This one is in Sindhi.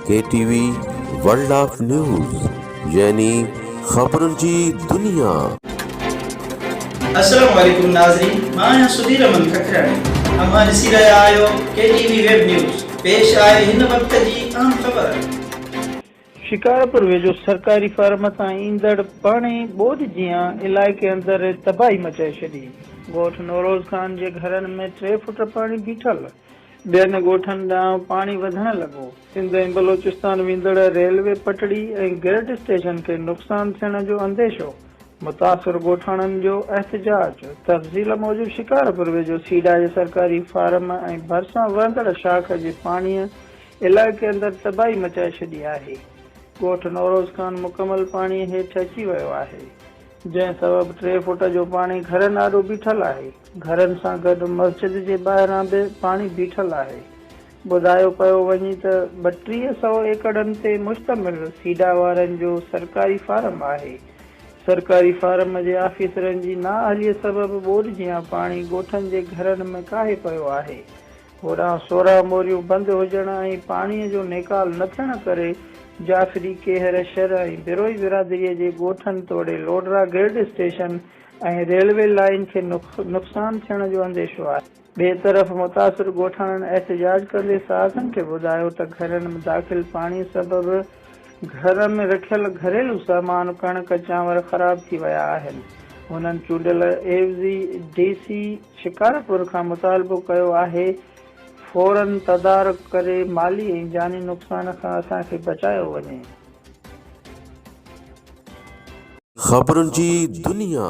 K T V world of news يعني خبرن جي دنيا. السلام عليڪم ناظرين مان آهيان سڌير امن ککرياڻي اوهان ڏسي رهيا آهيو K T V web news پيش آهي هن وقت جي اهم خبر. شڪارپور ويجهو سرڪاري فارم تان ايندڙ پاڻي ٻوڏ جيان علائقي اندر تباهي مچائي ڇڏي، ڳوٺ نوروز خان جي گهرن ۾ ٽي فٽ پاڻي بيٺل، ٻين ڳوٺن ڏانهن پاڻي وڌڻ لڳو. سنڌ ۽ بلوچستان ويندڙ ريلوي پٽڙي ۽ گرڊ اسٽيشن کي نقصان ٿيڻ جو انديشو، متاثر ڳوٺاڻن جو احتجاج، تفصيل موجب شڪارپور ويجهو سيڊا جي سرڪاري فارم ۽ ڀرسان وهندڙ شاخ جي پاڻيء علائقي اندر تباهي مچائي ڇڏي آهي، ڳوٺ نوروز خان مڪمل پاڻيء هيٺ اچي ويو آهي، جنهن سبب ٽي فوٽ جو پاڻي گهرن آڏو بيٺل آهي، گهرن سان گڏ مسجد جي ٻاهران به پاڻي بيٺل آهي، ٻڌايو پيو وڃي ته ٻه ٽيهه سئو ايڪڙن تي مشتمل سيڊا وارن جو سرڪاري فارم آهي، سرڪاري فارم جي آفيسرن جي نااهلي سبب ٻوڏ جيان پاڻي ڳوٺن جي گهرن ۾ ڪاهي پيو آهي، هوڏانهن سورهه موريون بند هجڻ ۽ پاڻيء جو نيڪال نه ٿيڻ ڪري جعفري ڪيهر شھر ۽ بروهي برادريء جي ڳوٺن توڙي Lodra grid station ۽ railway line کي نقصان ٿيڻ جو انديشو آهي. ٻئي طرف متاثر ڳوٺاڻن احتجاج ڪندي صحافين کي ٻڌايو ته گهرن ۾ داخل پاڻي سبب گهر ۾ رکيل گهريلو سامان ڪڻڪ چانور خراب ٿي ويا آهن. هنن چونڊيل عيوضي ڊي سي. شڪارپور کان مطالبو ڪيو آهي فورن تدارڪ ڪري مالي ۽ جاني نقصان کان اسان کي بچايو وڃي. خبرن جي دنيا.